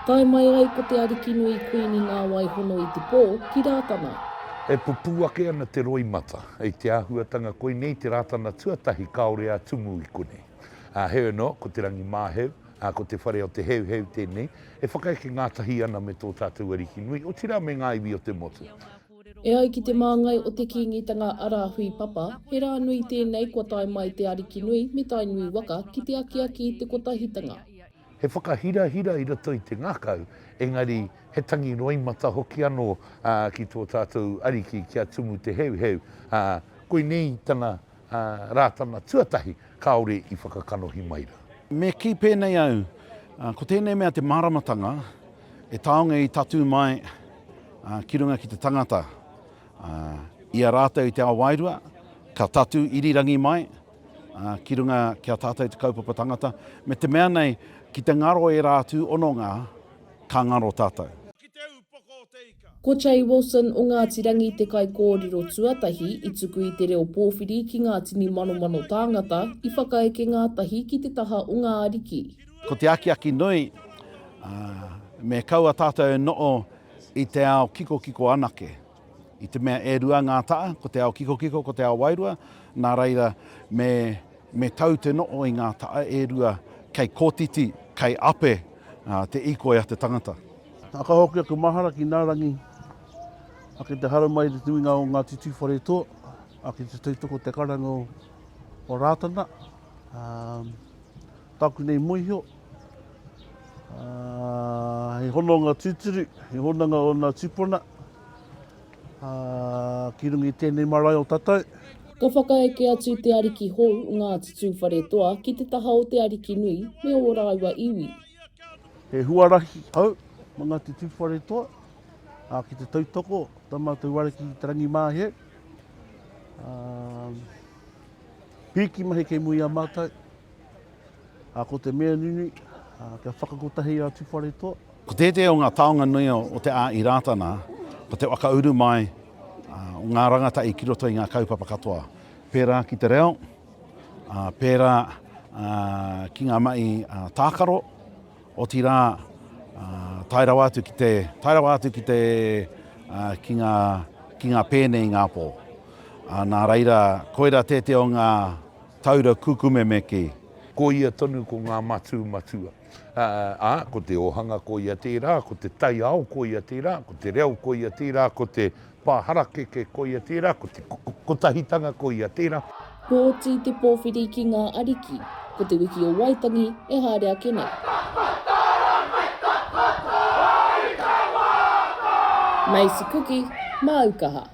Tae mai ai ko te Arikinui Kuini Ngāwaihono i te pō ki Rātana. E pupū ake ana te roimata. I te āhuatanga koinei te Rātana tuatahi kāore a Tumu i konei. Ā, heoi anō, ko Te Rangimāheu, ā, ko Te Whare o Te Heuheu tēnei, e whakaeke ngātahi ana me tō tātou Arikinui, otirā me ngā iwi o te motu. E ai ki te māngai o te Kīngitanga a Rāhui Papa, he rā nui tēnei kua tae mai te Ariki nui me Tainui waka ki te akiaki i te Kotahitanga. He whakahirahira i roto i te ngakau, engari he tangi roimata hoki anō ki tō tātou Ariki kia tumu te heuheu. Koinei tana. ā Rātana tuatahi kāore i whakakanohi mai rā. Me kī pēnei au, ko tēnei mea te māramatanga e taonga i tatū mai ki runga ki te tangata, i a rātou i te ao wairua, ka tatū irirangi mai ki runga ki a tātou te kaupapa tangata, me te mea nei ki te ngaro ērā atu hononga, ka ngaro tātou. Ko Che Wilson o Ngāti Rangi te kaikōrero tuatahi i tuku i te reo pōwhiri ki ngā tini manomano tāngata i whakaeke ngātahi ki te taha o ngā ariki. Ko te akiaki nui, me kaua tātou e noho i te ao kikokiko anake. I te mea e rua ngā taha, ko te ao kikokiko, ko te ao wairua, nā reira me. Me tau te no'o i ngā ta'a e rua kei kotiti, kei ape te ikoi a te tangata. A ka hoki aku mahara ki na rangi, a ki te hara mai i te tuinga o Ngati Tuwharetoa, a ki te tautoko o te karanga o Ratana, a taku nei moiho, a he hononga tuturu, he hononga o na tupuna, Ā, ki runga i tēnei marae o tatou. Ka whakaeke atu te ariki hou, Ngāti Tūwharetoa, ki te taha o te ariki nui me ō rāua iwi. He huarahi hou mō Ngāti Tūwharetoa, ā, ki te tautoko i tā mātou wāri ki te rangimāhie. Ā, pīki mahi kei muri i a mātou. Ko te mea nunui, kia whakakotahi a Tuwharetoa. Ko tētehi o ngā taonga nui o te a i Rātana, ko te whakauru mai o ngā rangatahi ki roto i ngā kaupapa katoa, pērā ki te reo, pērā ki ngā mahi tākaro, otirā tae rawa atu ki te, tae rawa atu ki te, ki ngā, ki ngā pēne i ngā pō. Nā reira, koira tētehi o ngā. Taura kukumeme kē. Ko ia tonu ko ngā matū matua. Ā, ko te ōhanga ko ia tērā, ko te taiao ko ia tērā, ko te reo ko ia tērā, ko te pā harakeke ko ia tērā, ko te kotahitanga ko ia tērā. Kua oti te pōwhiri ki ngā ariki. Ko te wiki o Waitangi e haere ake nei. Maize cookie, māu kaha.